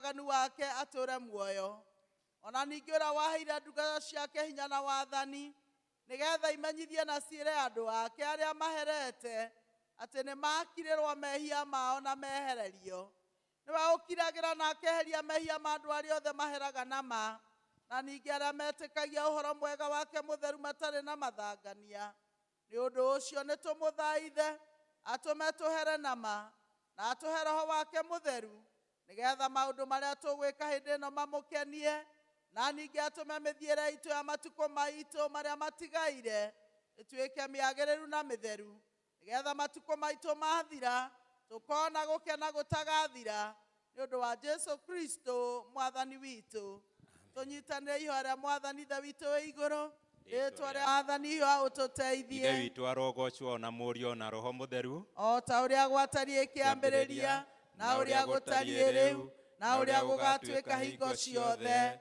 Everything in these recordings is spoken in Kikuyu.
waganu wake atũũre muoyo, o na ningĩ ũrĩa waheire ndungata ciake hinya na wathani, nĩgeetha imenyithie na ciĩre andũ ake arĩa maherete, atĩ nĩmakirĩrwo mehia mao na mehererio. Nĩwe ũkiragĩra na akeheria mehia ma andũ arĩa othe maheraga na ma, na ningĩ arĩa metĩkagia ũhoro mwega wake mũtheru matarĩ na mathangania. Nĩ ũndũ ũcio nĩ tũmũthaithe atũme tũhere na ma, na atũhe roho wake mũtheru, nĩ getha maũndũ marĩa tũgwĩka hĩndĩ ĩno mamũkenie, na ningĩ atũme mĩthiĩre itũ ya matukũ maitũ marĩa matigaire ĩtuĩke mĩagĩrĩru na mĩtheru, nĩ getha matukũ maitũ mathira tũkona gũkena gũtagathira, Nĩ ũndũ wa Jesu Kristo Mwathani witũ, tũnyitanĩre ihoya rĩa Mwathani Ithe witũ wĩ igũrũ, rĩĩtwa rĩa Mwathani Ihoya Ithe ũtũteithie, witũ arogocwo o na Mũriũ o na Roho Mũtheru. o ta ũrĩa gwatariĩ kĩambĩrĩria, na ũrĩa gũtariĩ rĩu, na ũrĩa gũgatuĩka hingo ciothe,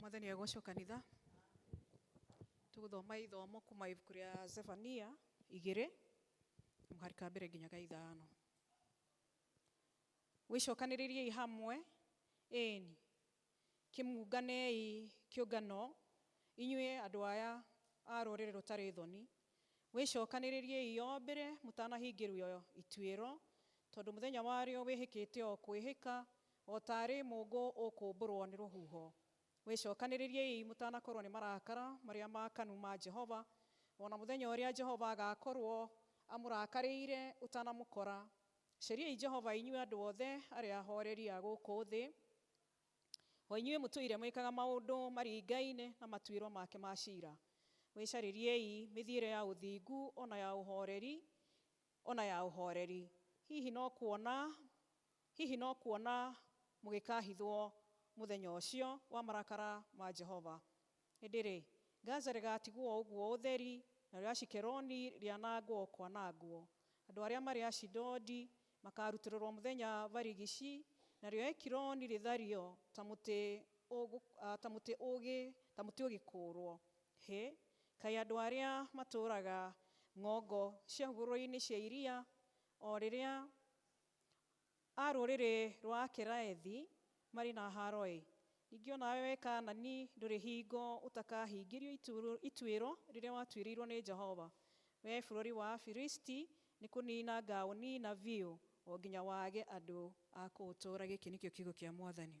Mwathani agocwo kanitha tũgũthoma ithomo kuma ibuku rĩa Zefania igĩrĩ mũhari ka mbere nginya ka ithano wĩcokanĩrĩriei hamwe ĩni Kĩmũnganei kĩũngano, inyuĩ andũ aya a rũrĩrĩ rũtarĩ thoni, wĩcokanĩrĩriei o mbere mũtanahingĩrio ituĩro, tondũ mũthenya warĩo wĩhĩkĩte o kwĩhĩka, o taarĩ mũũngũ ũkũmbũrwo nĩ rũhuho. Wĩcokanĩrĩriei mũtanakorwo nĩ marakara marĩa maakanu ma Jehova, o na mũthenya ũrĩa Jehova agaakorwo amũrakarĩire ũtanamũkora, Cariai Jehova inyuĩ andũ othe arĩa ahooreri a gũkũ thĩ, o inyuĩ mũtũire mwĩkaga maũndũ maringaine na matuĩro make ma ciira. Mwĩcarĩriei mĩthiĩre ya ũthingu o na ya ũhooreri, o na ya ũhooreri. Hihi no kuona, hihi no kuona mũgĩkaahithwo mũthenya ũcio wa marakara ma Jehova. Hĩndĩ-rĩ, Gaza rĩgaatigwo o ũguo ũtheri, narĩo Ashikeloni rĩanangwo o kwanangwo. Andũ arĩa marĩ Ashidodi makaarutũrũrwo mũthenya barigici, narĩo Ekironi rĩthario ta mũtĩ ta mũtĩ ũgĩ ta mũtĩ ũgĩkũũrwo. Hĩ! Kaĩ andũ arĩa matũũraga ng'ongo cia hũgũrũrũ-inĩ cia iria, o rĩrĩa A rũrĩrĩ rwa Akeraethi marĩ na haaro-ĩ! Ningĩ o nawe, wee Kaanani, ndũrĩ hingo ũtakahingĩrio ituĩro rĩrĩa watuĩrĩirwo nĩ Jehova. Wee bũrũri wa Afilisti, nĩkũniina ngaũniina biũ, o nginya wage andũ a kũũtũũra, gĩkĩ nĩkĩo kiugo kĩa Mwathani.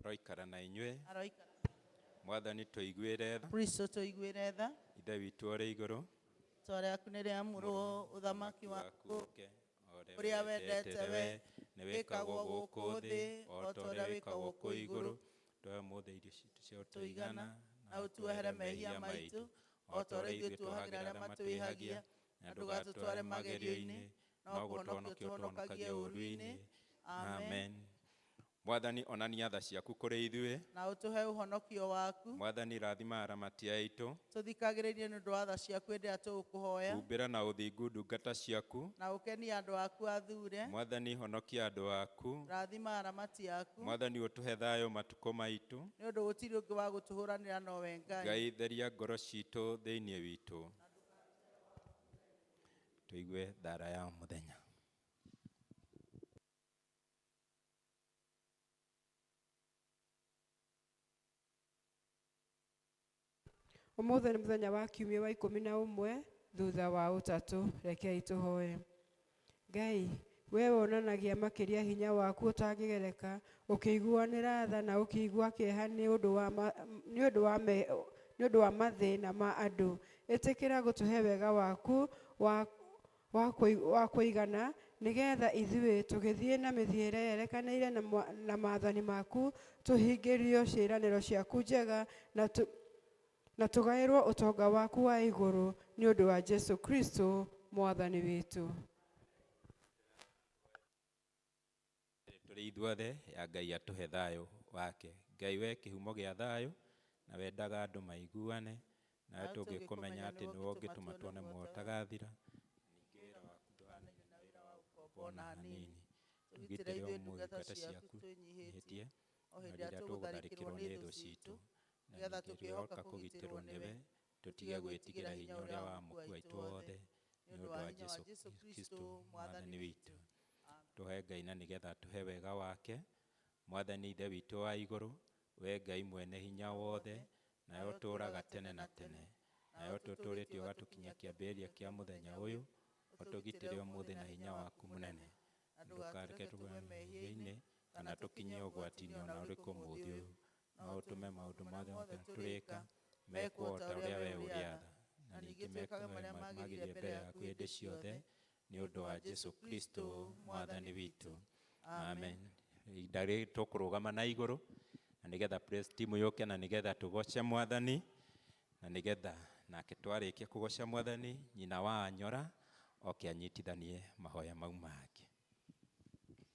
Aroikara na inyuĩ. Aroikara. Mwathani tũiguĩre tha. Kristo tũiguĩre tha. Ithe witũ ũrĩ igũrũ. Rĩĩtwa rĩaku nĩ rĩamũrwo, ũthamaki waku ũũke, ũrĩa wendete wee nĩ wĩkagwo gũkũ thĩ o ta ũrĩa wĩkagwo kũu igũrũ. Tũhe ũmũthĩ irio citũ cia ũtũigana, na ũtuohere mehia maitũ o ta ũrĩa ithuĩ tuohagĩra arĩa matwĩhagia, na ndũgatũtware magerio-inĩ, no gũtũhonokia ũtũhonokagie ũũru-inĩ. Amen. Mwathani, onania tha ciaku kũrĩ ithuĩ. Na ũtũhe ũhonokio waku. Mwathani, rathima aramati aitũ. Tũthikagĩrĩrie nĩ ũndũ wa tha ciaku hĩndĩ ĩrĩa tũgũkũhoya. Humbĩra na ũthingu ndungata ciaku. Na ũkenie andũ aku athure. Mwathani, honokia andũ aku. Rathima aramati aku. Mwathani, ũtũhe thayũ matukũ maitũ. Nĩ ũndũ gũtirĩ ũngĩ wa gũtũhũranĩra nowe Ngai. Ngai, theria ngoro citũ thĩinĩ witũ. Tũigue thaara ya mũthenya. Ũmũthĩ nĩ mũthenya wa kiumia wa ikũmi na ũmwe thutha wa ũtatũ. Rekei tũhoe. Ngai, Wee wonanagia makĩria hinya waku ũtangĩgereka, ũkĩiguanĩra tha na ũkĩigua kĩeha nĩ ũndũ wa ma, nĩ ũndũ wa me, nĩ ũndũ wa mathĩna ma andũ. Ĩtĩkĩra gũtũhe wega waku wa, wa, kũi- wa kũigana, nĩ getha ithuĩ, tũgĩthiĩ na mĩthiĩre yerekanĩire na, mwa- na maathani maku, tũhingĩrio ciĩranĩro ciaku njega, na, tũ, Na tũgaĩrwo ũtonga waku wa igũrũ nĩ ũndũ wa Jesu Kristo Mwathani witũ. Tũrĩ ithuothe ya Ngai atũhe thayũ wake. Ngai we kĩhumo gĩa thayũ, na wendaga andũ maiguane, nawe tũngĩkũmenya atĩ nĩwe ũngĩtũma tuone muoyo ũtagathira, ningĩ wĩra waku ndũhanaine na wĩra wa ũkombo o na hanini. Tũgitĩre ũmũthĩ ngata ciaku twĩnyihĩtie, o hĩndĩ ĩrĩa tũgũtharĩkĩrwo nĩ thũ citũ, nĩgetha tũkĩhoka kũgitĩrwo nĩwe, tũtige gwĩtigĩra hinya ũrĩa wa mũkuũ aitũ wothe, nĩ ũndũ wa Jesu Kristo Mwathani witũ. Tũhe Ngai na nĩgetha atũhe wega wake. Mwathani Ithe witũ wa igũrũ, wee Ngai mwene hinya wothe, nawe ũtũũraga tene na tene, nawe ũtũtũũrĩte ũgatũkinyia kĩambĩrĩria kĩa mũthenya ũyũ, ũtũgitĩre ũmũthĩ na hinya waku mũnene, na ndũkareke tũgwe mehia-inĩ, kana tũkinye ũgwati-inĩ o na ũrĩkũ ũmũthĩ ũyũ, no ũtũme maũndũ marĩa mothe tũrĩka mekwo o ta ũrĩa wee ũrĩatha na ningĩ mekage marĩa magĩrĩire mbere yaku hĩndĩ ciothe nĩ ũndũ wa jesu kristo mwathani witũ amen ihinda rĩrĩ tũkũrũgama na igũrũ na nĩgetha praise team yũke na nĩgetha tũgoce mwathani na nĩgetha nake twarĩkia kũgoca mwathani nyina wa anyora oke anyitithanie mahoya mau make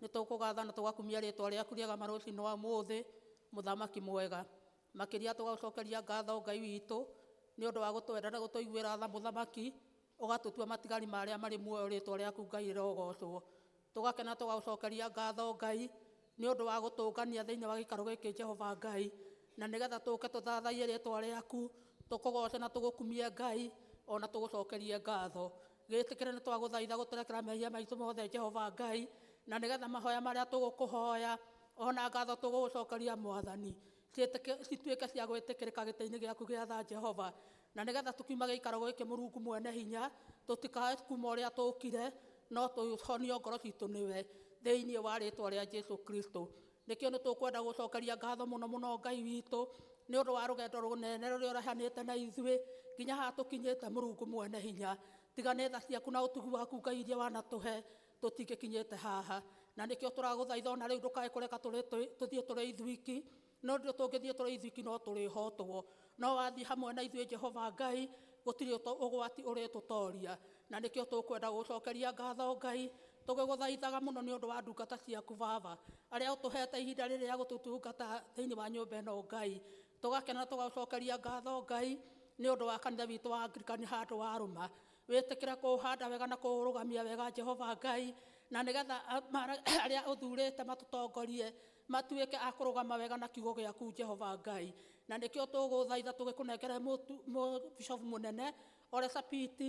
Nĩ tũkũgatha na tũgakumia rĩĩtwa rĩaku rĩega marũcinĩ wa ũmũthĩ, Mũthamaki mwega. Makĩria tũgagũcokeria ngatho Ngai witũ nĩ ũndũ wa gũtwenda na gũtũiguĩra tha Mũthamaki, ũgatũtua matigari ma arĩa marĩ muoyo rĩĩtwa rĩaku Ngai rĩrogoocwo. Tũgakena tũgagũcokeria ngatho Ngai nĩ ũndũ wa gũtũũngania thĩinĩ wa gĩikaro gĩkĩ Jehova Ngai, na nĩgetha tũũke tũthathaiye rĩĩtwa rĩaku, tũkũgooce na tũgũkumie Ngai, o na tũgũcokerie ngatho. Gĩtĩkĩre nĩ twagũthaitha gũtũrekera mehia maitũ mothe Jehova Ngai, na nĩ getha mahoya marĩa tũgũkũhoya o na ngatho tũgũgũcokeria Mwathani, ciĩtĩkĩ- cituĩke cia gwĩtĩkĩrĩka gĩtĩ-inĩ gĩaku gĩa tha Jehova, na nĩ getha tũkiuma gĩikaro gĩkĩ Mũrungu Mwene Hinya, tũtikae kuma ũrĩa tũkire, no tũhonio ngoro citũ nĩwe, thĩinĩ wa rĩtwa rĩa Jesu Kristo. Nĩkĩo nĩ tũkwenda gũcokeria ngatho mũno mũno Ngai witũ nĩ ũndũ wa rũgendo rũnene rũrĩa ũrehanĩte na ithuĩ nginya haha tũkinyĩte Mũrungu mwene hinya. Tiga nĩ tha ciaku na ũtugi waku Ngai iria wanatũhe tũtingĩkinyĩte haha. Na nĩkĩo tũragũthaitha ona rĩu ndũkae kũreka tũthiĩ tũrĩ ithuiki nĩ ũndũ tũngĩthiĩ tũrĩ ithuiki no tũrĩhotwo. no wathiĩ hamwe na ithuĩ jehova ngai gũtirĩ ũto- ũgwati ũrĩtũtoria na nĩkĩo tũkwenda gũcokeria ngatho ngai tũgĩgũthaithaga mũno nĩ ũndũ wa ndungata ciaku baba arĩa ũtũhete ihinda rĩrĩ rĩa gũtũtungata thĩinĩ wa nyũmba ĩno ngai tũgakena tũgacokeria ngatho ngai nĩ ũndũ wa kanitha witũ wa angirikani handũ wa rũma wĩtĩkĩre kũũhanda wega na kũũrũgamia wega jehova ngai na nĩgetha a- mara- arĩa ũthurĩte matũtongorie Matuĩke a kũrũgama wega na kiugo gĩaku, Jehova Ngai. Na nĩkĩo tũgũthaitha tũgĩkũnengere mũtu- mũ- Bishofu Mũnene Ole Sapit,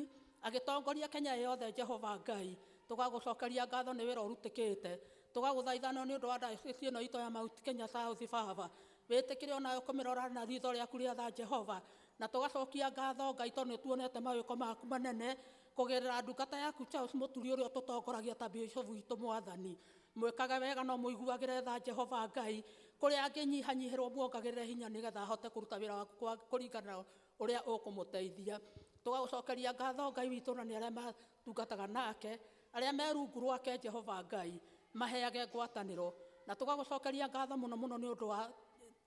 agĩtongorie Kenya ĩ yothe, Jehova Ngai. Tũgagũcokeria ngatho nĩ wĩra ũrutĩkĩte. Tũgagũthaitha no nĩ ũndũ wa diocese ĩno itũ ya Mount Kenya South, Baba. Wĩtĩkĩre o nawe kũmĩrora na riitho rĩaku rĩa tha, Jehova. Na tũgacokia ngatho, Ngai, tondũ nĩ tuonete mawĩko maku manene, Kũgerera ndungata yaku Charles Mũturi ũrĩa ũtũtongoragia ta Bishop witũ Mwathani, mwĩkage wega no mũiguagĩre tha Jehova Ngai, kũrĩa angĩnyihanyihĩrwo muongagĩrĩre hinya nĩgetha ahote kũruta wĩra waku kwa kũringana na ũrĩa ũkũmũteithia. Tũgagũcokeria ngatho Ngai witũ na nĩ arĩa matungataga nake, arĩa me rungu rwake Jehova Ngai, maheage ngwatanĩro. Na tũgagũcokeria ngatho mũno mũno nĩ ũndũ wa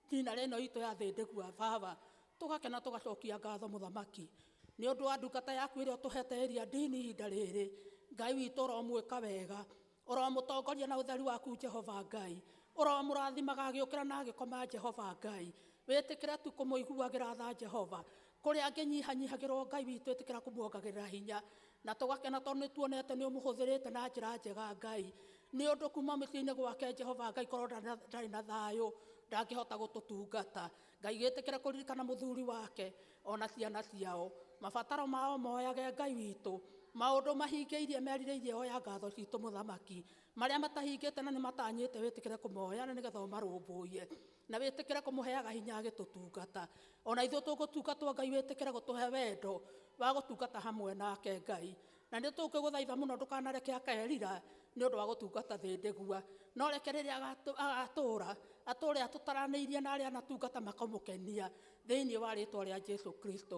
Tina rĩno itũ ya thĩ ndĩgua baba tũgakena tũgacokia ngatho mũthamaki nĩ ũndũ wa ndungata yaku ĩrĩa ũtũhete ĩria ndini ihinda rĩrĩ Ngai witũ ũromwĩka wega ũromũtongoria na ũtheru waku Jehova Ngai ũromũrathimaga agĩũkĩra na agĩkoma Jehova Ngai wĩtĩkĩre tu kũmũiguagĩra tha Jehova Kũrĩ angĩ nyihanyihagĩrwo Ngai witũ ĩtĩkĩra kũmuongagĩrĩra hinya na tũgakena tondũ nĩ tuonete nĩ ũmũhũthĩrĩte na njĩra njega Ngai nĩ ũndũ kuma mũciĩ-inĩ gwake Jehova Ngai korwo ndarĩ na thayũ ndangĩhota gũtũtungata Ngai gĩtĩkĩre kũririkana mũthuri wake ona ciana ciao mabataro mao moyage Ngai witũ maũndũ mahingĩirie merirĩirie oya ngatho citũ mũthamaki marĩa matahingĩte na nĩ matanyĩte wĩtĩkĩre kũmoya na nĩgetha ũmarũmbũiye na wĩtĩkĩre kũmũheaga hinya agĩtũtungata o na ithuĩ tũgũtungatwo ngai wĩtĩkĩre gũtũhe wendo wa gũtungata hamwe nake ngai na nĩ tũkĩgũthaitha mũno ndũkanareke akerira nĩ ũndũ wa gũtungata thĩ ndĩgua no reke rĩrĩa agatũ- agatũũra atũũre atũtaranĩirie na arĩa anatungata makamũkenia thĩinĩ wa rĩtwa rĩa jesu kristo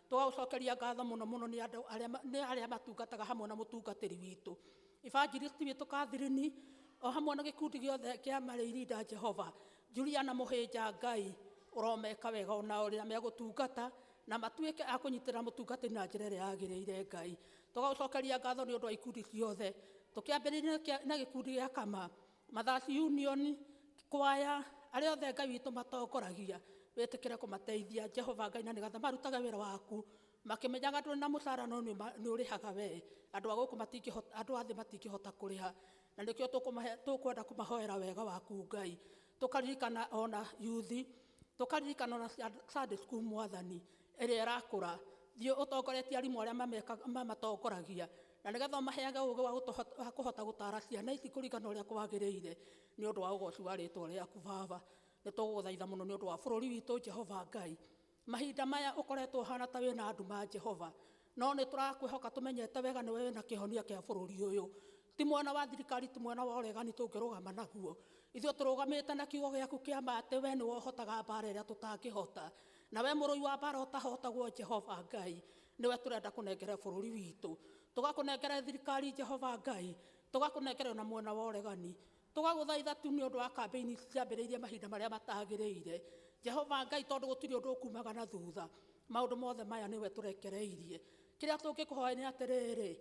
Tũgagũcokeria ngatho mũno mũno nĩ andũ arĩa ma- nĩ arĩa matungataga hamwe na mũtungatĩri witũ evangelist witũ Catherine o hamwe na gĩkundi gĩothe kĩa marĩirinda Jehova Juliana Mũhĩnja Ngai ũromeka wega ona ũrĩa megũtungata na matuĩke a kũnyitĩrĩra mũtungatĩri na njĩra ĩrĩa yagĩrĩire Ngai tũgagũcokeria ngatho nĩ ũndũ wa ikundi ciothe tũkĩambĩrĩria na kĩa- na gĩkundi gĩa kama Mathasi Union, kwaya, arĩa othe Ngai witũ matongoragia, wĩtĩkĩre kũmateithia Jehova Ngai na nĩgetha marutage wĩra waku makĩmenyaga ndũrĩ na mũcara no nĩ ũma- nĩ ũrĩhaga wee. Andũ a gũkũ matingĩhota, andũ a thĩ matingĩhota kũrĩha na nĩkĩo tũkũmahe, tũkwenda kũmahoera wega waku Ngai. Tũkaririkana ona yuthi, tũkaririkana ona cia- Sunday school Mwathani ĩrĩa ĩrakũra. Thiĩ ũtongoretie arimũ arĩa mameka- mamatongoragia Na nĩ getha ũmaheage ũũgĩ wa kũhota gũtaara ciana ici kũringana na ũrĩa kwagĩrĩire, nĩ ũndũ wa ũgooci wa rĩĩtwa rĩaku, Baba. Nĩ tũgũgũthaitha mũno nĩ ũndũ wa bũrũri witũ, Jehova Ngai. Mahinda maya ũkoretwo ũhaana ta wĩ na nduma, Jehova. No nĩ tũrakwĩhoka tũmenyete wega nĩwe wĩ na kĩhonia kĩa bũrũri ũyũ. Ti mwena wa thirikari, ti mwena wa ũregani tũngĩrũgama naguo. Ithuĩ tũrũgamĩte na kiugo gĩaku kĩa ma atĩ wee nĩwe ũhotaga mbaara ĩrĩa tũtangĩhota. Na wee mũrũi wa mbaara ũtahotagwo, Jehova Ngai. nĩwe tũrenda kũnengere bũrũri witũ tũgakũnengere thirikari jehova ngai tũgakũnengere ona mwena wa ũregani tũgagũthaitha tu nĩ ũndũ wa kambĩini ciambĩrĩirie mahinda marĩa matagĩrĩire jehova ngai tondũ gũtirĩ ũndũ ũkumaga na thutha maũndũ mothe maya nĩwe tũrekereirie kĩrĩa tũngĩkũhoya nĩ atĩrĩrĩ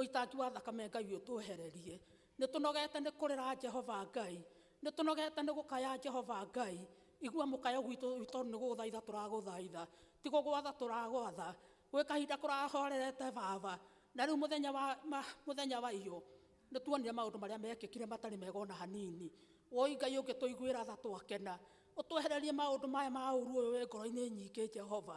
ũitangi wa thakame ngai ũtwehererie Nĩ tũnogete nĩ kũrĩra Jehova Ngai, Nĩ tũnogete nĩ gũkaya Jehova Ngai, Igua mũkayo gwitũ wĩ tondũ nĩ gũgũthaitha tũragũthaitha, Ti gũgwatha tũragwatha, Gwĩ kahinda kũrahorerete Baba, Na rĩu mũthenya wa, ma, mũthenya wa iyũ, Nĩ tuonire maũndũ marĩa mekĩkire matarĩ mega o na hanini, Wũi Ngai ũngĩtũiguĩra tha twakena, Ũtwehererie maũndũ maya ma ũũru ũyũ wĩ ngoro-inĩ nyingĩ Jehova,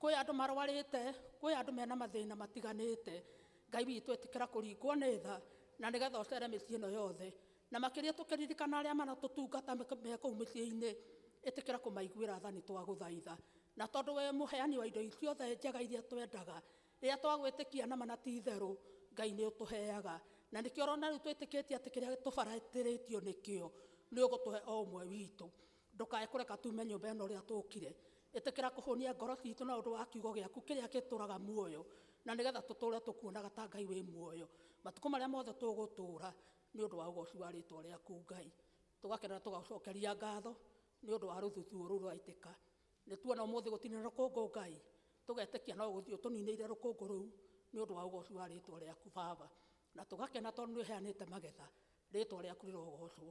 Kwĩ andũ marwarĩte, kwĩ andũ mena mathĩna matiganĩte. Ngai witũ ĩtĩkĩra kũringwo nĩ tha na nĩgetha ũcere mĩciĩ ĩno yothe. Na makĩria tũkĩririkana arĩa maratũtungata me kũu mĩciĩ-inĩ, ĩtĩkĩra kũmaiguĩra tha nĩ twagũthaitha. Na tondũ wĩ mũheani wa indo ciothe njega iria twendaga, rĩrĩa twagwĩtĩkia nama na ti itherũ, Ngai nĩ ũtũheaga. Na nĩkĩo ũrona rĩu twĩtĩkĩtie atĩ kĩrĩa tũbarĩtĩrĩtio nĩkĩo, nĩ ũgũtũhe o ũmwe witũ. Ndũkae kũreka tuume nyũmba ĩno ũrĩa tũũkire. Ĩtĩkĩra kũhũnia ngoro ciitũ na ũndũ wa Kiugo gĩaku kĩrĩa kĩtũũraga muoyo, na nĩgetha tũtũũre tũkuonaga ta Ngai wĩ muoyo matukũ marĩa mothe tũgũtũũra, nĩ ũndũ wa ũgooci wa rĩĩtwa rĩaku Ngai. Tũgakena na tũgagũcookeria ngaatho nĩ ũndũ wa rũthuthuũ rũu rũraitĩka. Nĩ tuona ũmũthĩ gũtinĩra rũkũngũ, Ngai, tũgetĩkia no gũthiĩ ũtũniinĩire rũkũngũ rũu nĩ ũndũ wa ũgooci wa rĩĩtwa rĩaku, Baba. Na tũgakena tondũ nĩ ũheanĩte magetha, rĩĩtwa rĩaku rĩrogoocwo.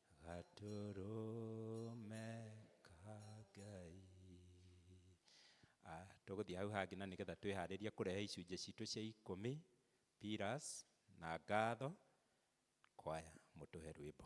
gatũrũme ka ngai Ah, tũgũthiĩ hau hangĩ na nĩgetha twĩharĩrie kũrehe icunjĩ citũ cia ikũmi piras na ngatho kwaya mũtũhe rwĩmbo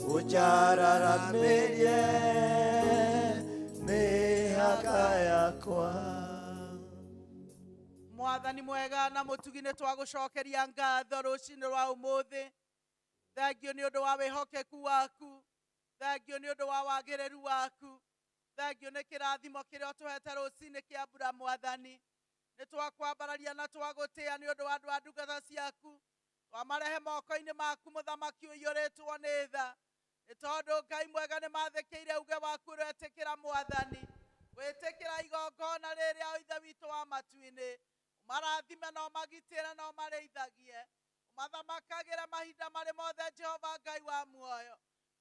ũnjararamirie mĩhaka yakwa mwathani mwega na mũtugi nĩ twagũcokeria ngatho rũcinĩ rwa ũmũthĩ thengio nĩ ũndũ wa wĩhokeku waku thengio nĩ ũndũ wa wagĩrĩru waku thengio nĩ kĩrathimo kĩrĩa ũtũhete rũcinĩ kĩa mbura mwathani nĩ twakwambararia na twagũtĩa nĩ ũndũ wa andũ a ndungata ciaku Twamarehe moko-inĩ maku, mũthamaki ũiyũrĩtwo nĩ tha, nĩ tondũ Ngai mwega nĩmathĩkĩire uge waku ũrĩa etĩkĩra mwathani, gwĩtĩkĩra igongona rĩrĩ rĩa o Ithe witũ wa matu-inĩ. Ũmarathime na ũmagitĩre na ũmarĩithagie, ũmathamakagĩre mahinda marĩ mothe, Jehova Ngai wa muoyo.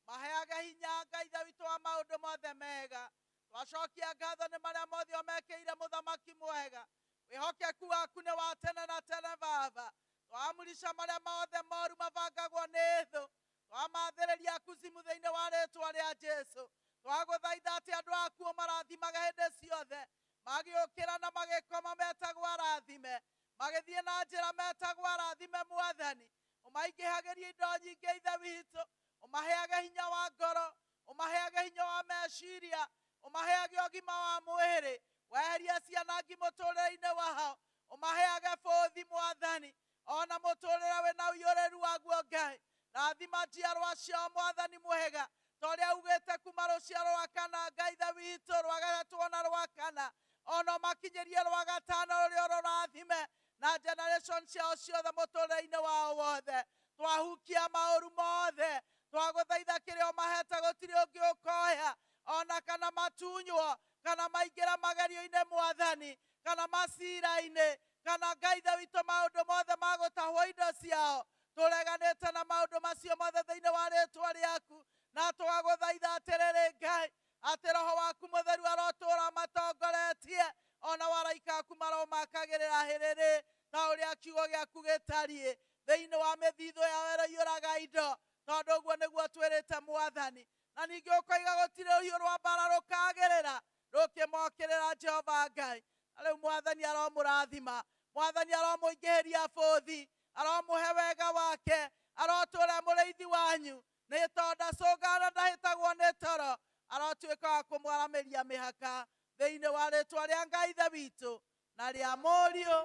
Maheage hinya, Ngai Ithe witũ wa maũndũ mothe mega. Twacokia ngatho nĩ marĩa mothe ũmekĩire mũthamaki mwega. Wĩhokeku waku nĩ wa tene na tene Baba. Twaamrisha marĩa mothe moru mabangagwo nĩ thũ. Twamathĩrĩria kuzimu thĩinĩ wa rĩĩtwa rĩa Jesu. Twagũthaitha atĩ andũ aku ũmarathimage hĩndĩ ciothe, magĩũkĩra na magĩkoma metagwo arathime, magĩthiĩ na njĩra metagwo arathime Mwathani. Ũmaingĩhagĩrie indo nyingĩ Ithe witũ, ũmaheage hinya wa ngoro, ũmaheage hinya wa meciria, ũmaheage ũgima wa mwĩrĩ, weherie cianangi mũtũrĩre-inĩ wao, ũmaheage bũthi Mwathani, ona mũtũrĩre wĩna ũiyũrĩru waguo Ngai, rathima njiarwa ciao Mwathani mwega, ta ũrĩa ugĩte kuma rũciaro rwa kana Ngai Ithe witũ, rwa gatatũ ona rwa kana, ona ũmakinyĩrie rwa gatano rũrĩa ũrorathime, na generation ciao ciothe mũtũrĩre-inĩ wao wothe, twahukia maũru mothe, twagũthaitha kĩrĩa ũmahete gũtirĩ ũngĩ ũkoya, o na kana matunywo, kana maingĩre magerio-inĩ mwathani, kana macira-inĩ, kana Ngai Ithe witũ maũndũ mothe ma gũtahwo indo ciao, tũreganĩte na maũndũ macio mothe thĩinĩ wa rĩtwa rĩaku, na twagũthaitha atĩrĩrĩ Ngai, Atĩ Roho waku Mũtheru arotũũra amatongoretie, o nao araika aku maromakagĩrĩra hĩrĩrĩ, ta ũrĩa kiugo gĩaku gĩtariĩ, thĩinĩ wa mĩthithũ yao ĩroiyũraga indo, tondũ ũguo nĩguo ũtwĩrĩte mwathani. Na ningĩ ũkoiga, Gũtirĩ rũhiũ rwa mbaara rũkaagĩrĩra rũkĩmokĩrĩra Jehova Ngai. Na rĩu mwathani aromũrathima, mwathani aromũingĩhĩria bũthi, aromũhe wega wake, arotũũra e mũrĩithi wanyu, Nĩ tondũ ndacũngaga na ndahĩtagwo nĩ toro, arotuĩka wa kũmwaramĩria mĩhaka thĩinĩ wa rĩĩtwa rĩa Ngai Ithe witũ, na rĩa Mũriũ,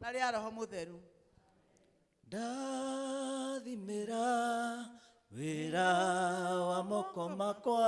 na rĩa Roho Mũtheru. Ndathimĩra wĩra wa moko makwa.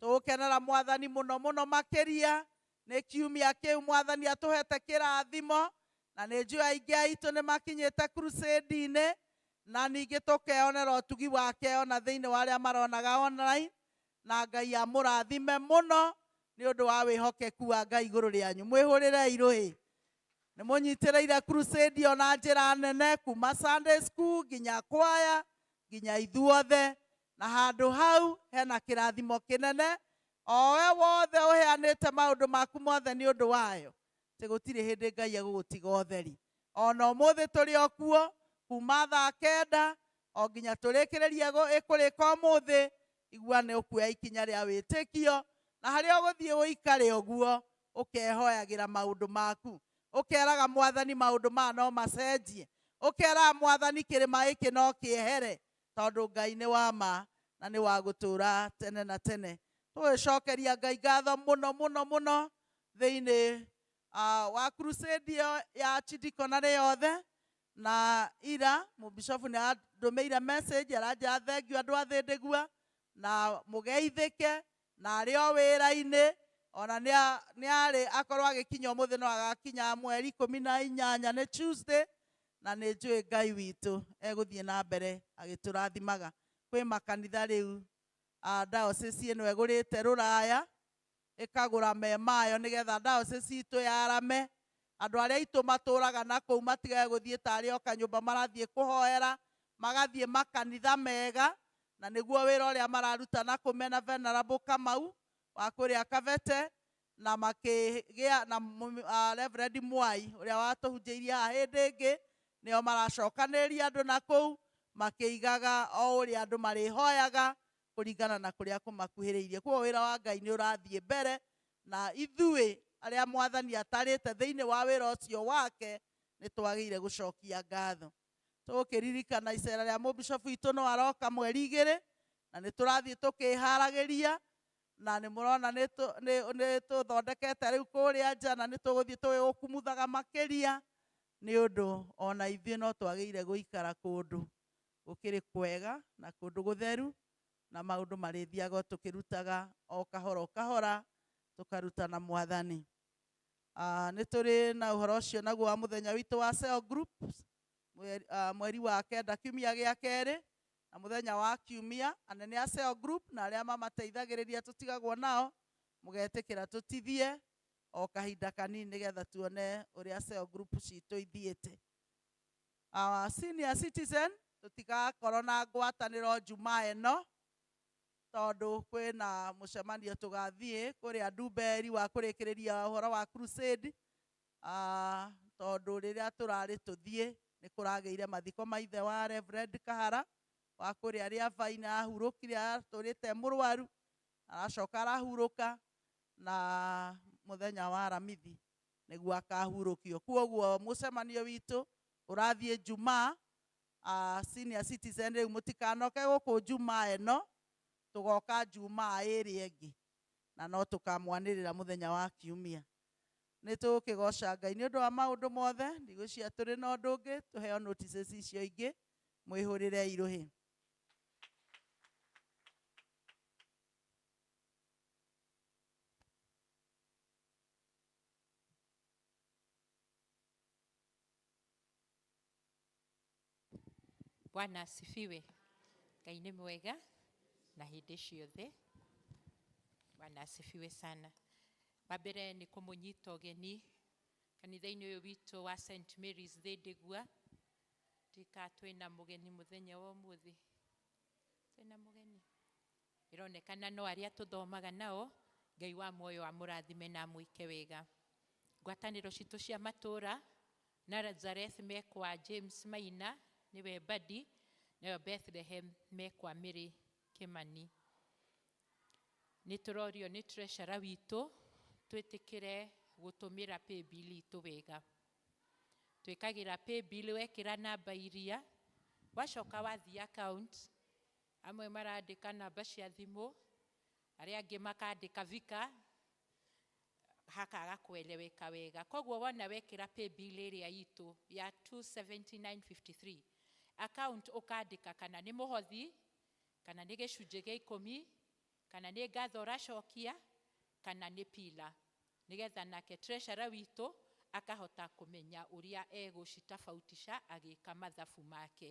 Tũgũkenera Mwathani mũno mũno makĩria nĩ kiumia kĩu Mwathani atũhete kĩrathimo, na nĩ njũĩ aingĩ aitũ nĩ makinyĩte crusade-inĩ, na ningĩ tũkeonera ũtugi wake o na thĩinĩ wa arĩa maronaga online, na Ngai amũrathime mũno nĩ ũndũ wa wĩhokeku wa Ngai igũrũ rĩanyu. Mwĩhũrĩrei rũĩ. Nĩ mũnyitĩrĩire crusade ĩyo na njĩra nene, kuma Sunday school, nginya kwaya, nginya ithuothe, Na handũ hau hena kĩrathimo kĩnene, o we wothe ũheanĩte maũndũ maku mothe nĩ ũndũ wayo, atĩ gũtirĩ hĩndĩ Ngai egũgũtiga ũtheri. O na ũmũthĩ tũrĩ o kuo, kuuma thaa kenda o nginya tũrĩkĩrĩrie kũrĩka ũmũthĩ, igua nĩ ũkuoya ikinya rĩa wĩtĩkio, na harĩa ũgũthiĩ ũikare ũguo, ũkehoyagĩra maũndũ maku, ũkeraga Mwathani maũndũ maya no macenjie, ũkeraga Mwathani kĩrĩma gĩkĩ no kĩehere, tondũ Ngai nĩ wa ma na nĩ wa gũtũũra tene na tene. Tũgĩcokeria Ngai ngatho mũno mũno mũno thĩinĩ wa crusade ĩyo ya Chidiconary yothe, na ira Mũbishobu nĩ andũmĩire message aranjĩra thengiũ andũ a Thĩndĩgua, na mũgeithĩke, Na arĩ o wĩra-inĩ, o na nĩ nĩ arĩ, akorwo agĩkinya ũmũthĩ no agakinya mweri ikũmi na inyanya, nĩ Tuesday, na nĩ njũĩ Ngai witũ egũthiĩ na mbere agĩtũrathimaga. Kwĩ makanitha rĩu diocese ĩno ĩgũrĩte rũraya, ĩkagũra me mayo nĩgetha diocese itũ yarame, Andũ arĩa aitũ matũũraga na kũu matigage gũthiĩ ta arĩ o kanyũmba marathiĩ kũhoera, magathiĩ makanitha mega, na nĩguo wĩra ũrĩa mararuta na kũu mena Venerable Kamau wa kũrĩa Kavete, na makĩgĩa na Reverend Mwai ũrĩa watũhunjĩirie haha hĩndĩ ĩngĩ, nĩo maracokanĩrĩria andũ na kũu, makĩigaga o ũrĩa andũ marĩhoyaga kũringana na kũrĩa kũmakuhĩrĩirie. Kwoguo wĩra wa Ngai nĩ ũrathiĩ mbere, na ithuĩ arĩa Mwathani atarĩte thĩinĩ wa wĩra ũcio wake nĩ twagĩire gũcokia ngatho. Tũgũkĩririkana icera rĩa mũbishobu witũ no aroka mweri igĩrĩ, na nĩ tũrathiĩ tũkĩharagĩria, na nĩ mũrona nĩ tũthondekete rĩu kũrĩa nja na nĩ tũgũthiĩ tũgĩgũkumuthaga makĩria, nĩ ũndũ ona ithuĩ no twagĩire gũikara kũndũ Gũkĩrĩ kwega na kũndũ gũtheru, na maũndũ marĩthiaga o tũkĩrutaga o kahora o kahora, tũkaruta na Mwathani. Nĩ tũrĩ na ũhoro ũcio naguo wa mũthenya witũ wa cell group, mweri wa kenda kiumia gĩa kerĩ, na mũthenya wa kiumia, anene a cell group na arĩa mamateithagĩrĩria tũtigagwo nao, mũgetĩkĩra tũtithie o kahinda kanini nĩgetha tuone ũrĩa cell group citũ ithiĩte. Our senior citizen tũtigakorwo na ngwatanĩro njumaa ĩno tondũ kwĩna mũcemanio tũgathiĩ kũrĩa Ndumberi wa kũrĩkĩrĩria ũhoro wa crusade tondũ rĩrĩa tũrarĩ tũthiĩ nĩ kũragĩire mathiko ma ithe wa Reverend Kahara wa kũrĩa Rĩabainĩ arahurũkire atũrĩte mũrwaru aracoka arahurũka na mũthenya wa aramithi nĩguo akahurũkio. Kwoguo mũcemanio witũ ũrathiĩ Jumaa, senior citizen rĩu mũtikanoke gũkũ Jumaa ĩno, tũgoka Jumaa ĩrĩa ĩngĩ na no tũkamwanĩrĩra mũthenya wa Kiumia. Nĩ tũgũkĩgoca Ngai nĩ ũndũ wa maũndũ mothe, ndigwĩciria tũrĩ na ũndũ ũngĩ, tũheo notices icio ingĩ, mwĩhũrĩrei rũhĩ. Bwana asifiwe. Ngai nĩ mwega na hĩndĩ ciothe. Bwana asifiwe sana. Wa mbere nĩ kũmũnyita ũgeni kanitha-inĩ ũyũ witũ wa St Mary's Thĩndĩgua. Ndika twĩna mũgeni mũthenya wa ũmũthĩ, twĩna mũgeni Ĩronekana no arĩa tũthomaga nao. Ngai wa muoyo amũrathime na amũike wega. Ngwatanĩro citũ cia matũra, Nazareth me kwa James Maina nĩwe Mbadi, nayo Bethlehem me kwa Mary Kĩmani. Nĩ tũrorio nĩ treasurer witũ twĩtĩkĩre gũtũmĩra paybill itũ wega. Twĩkagĩra paybill wekĩra namba iria, wacoka wathiĩ account, Amwe marandĩka namba cia thimũ, arĩa angĩ makandĩka vika, hakaga kũ eleweka wega. Koguo wona wekĩra paybill ĩrĩa itũ ya 27953, account ũkandĩka kana nĩ mũhothi, kana nĩ gĩcunjĩ gĩa ikũmi, kana nĩ ngatho ũracokia, kana nĩ pillar. Nĩgetha nake treasurer witũ akahota kũmenya ũrĩa egũcitabautisha agĩka mathabu make.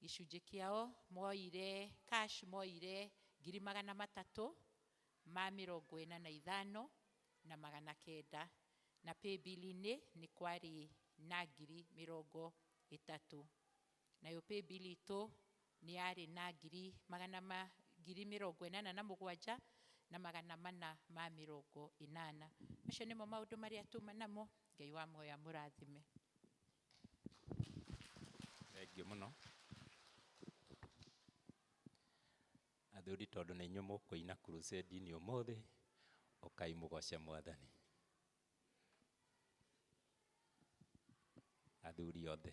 gĩcunjĩ kĩao moire cash moire ngiri magana matatũ ma mĩrongo ĩna na ithano na magana kenda, na paybill inĩ nĩ kwarĩ na ngiri mĩrongo ĩtatũ, nayo paybill itũ nĩ yarĩ na ngiri magana ma ngiri mĩrongo ĩnana na mũgwanja na magana mana ma mĩrongo ĩnana. Macio nĩmo maũndũ marĩa tuma namo, Ngai wa muoyo amũrathime. Thengiũ mũno. Athuri tondũ nĩ inyuĩ mũkũina crusade -inĩ ũmũthĩ, ũkai mũgoce mwathani. Athuri othe.